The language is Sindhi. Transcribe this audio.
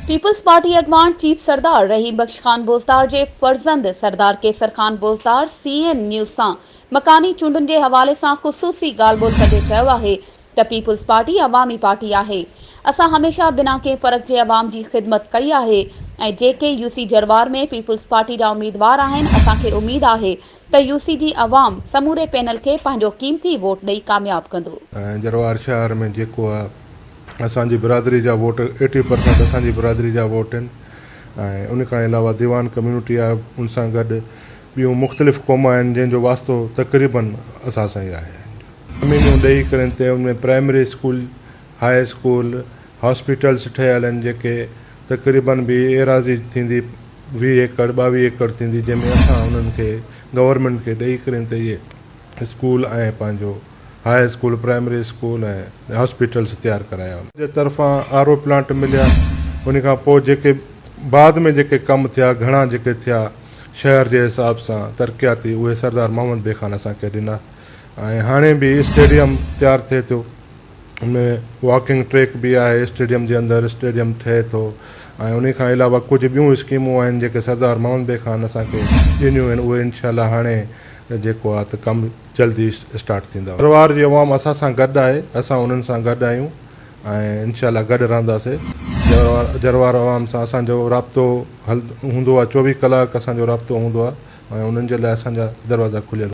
پيپلز پارٽي اڳواڻ چيف سردار رحيم بخش خان بوزدار جي فرزند Sardar Qaiser Khan Bozdar C N news سان مڪاني چونڊن جي حوالي سان خصوصي ڳالهه ٻولهه ڪندي چيو آهي ته پيپلز پارٽي عوامي پارٽي آهي اسان هميشه بنا ڪنهن فرق جي عوام جي خدمت ڪئي آهي ۽ جيڪي يوسي جروار ۾ پيپلز پارٽي جا اميدوار آهن اسان کي اميد آهي ته يو سي جي عوام سموري پينل کي پنهنجو قيمتي ووٽ ڏئي ڪامياب ڪندو. جروار شهر ۾ جيڪو آ اسان جي برادري جا ووٽ ايٽي پرسينٽ اسان جي برادري جا ووٽ آهن ۽ ان کان علاوه ديوان ڪميونٽي آهي ان سان گڏ ٻيون مختلف قوما آهن جنهن جو واسطو تقريبا اسان سان ئي آهي. اميدون ڏئي ڪرين تي ان ۾ primary school high school hospitals ٺهيل آهن جيڪي تقريبن به ايراضي ٿيندي ويهه ايڪڙ ٻاويهه ايڪڙ ٿيندي جنهن ۾ اسان انهن کي گورنمينٽ کي ڏئي ڪرين ته اهي اسڪول ۽ پنهنجو high school primary school ۽ hospitals تيار ڪرايا ان جي طرفان آر او پلانٽ مليا ان کان پوء جيڪي بعد ۾ جيڪي ڪم ٿيا گهڻا جيڪي ٿيا شهر جي حساب سان ترقياتي اهي سردار محمد بي خان اسان کي ڏنا ۽ هاڻي به اسٽيڊيم تيار ٿئي ٿيو. ۾ واڪنگ ٽريڪ به آهي اسٽيڊيم جي اندر اسٽيڊيم ٺهي ٿو ۽ انهي کان علاوه ڪجهه ٻيون اسڪيمون آهن جيڪي سردار محمد بي خان اسان کي ڏنيون آهن اهي انشاء الله هاڻي جيڪو آهي ته ڪم جلد ئي اسٽارٽ ٿيندا. ڀرواڙ جي عوام اسان سان گڏ آهي اسان انهن سان گڏ آهيون ۽ انشاء الله گڏ رهنداسي ڀرواڙ عوام سان اسان جو رابطو هوندو آهي چوويهه ڪلاڪ اسان جو رابطو هوندو آهي ۽ انهن جي لاء اسان جا دروازا کليل هوندا آهن.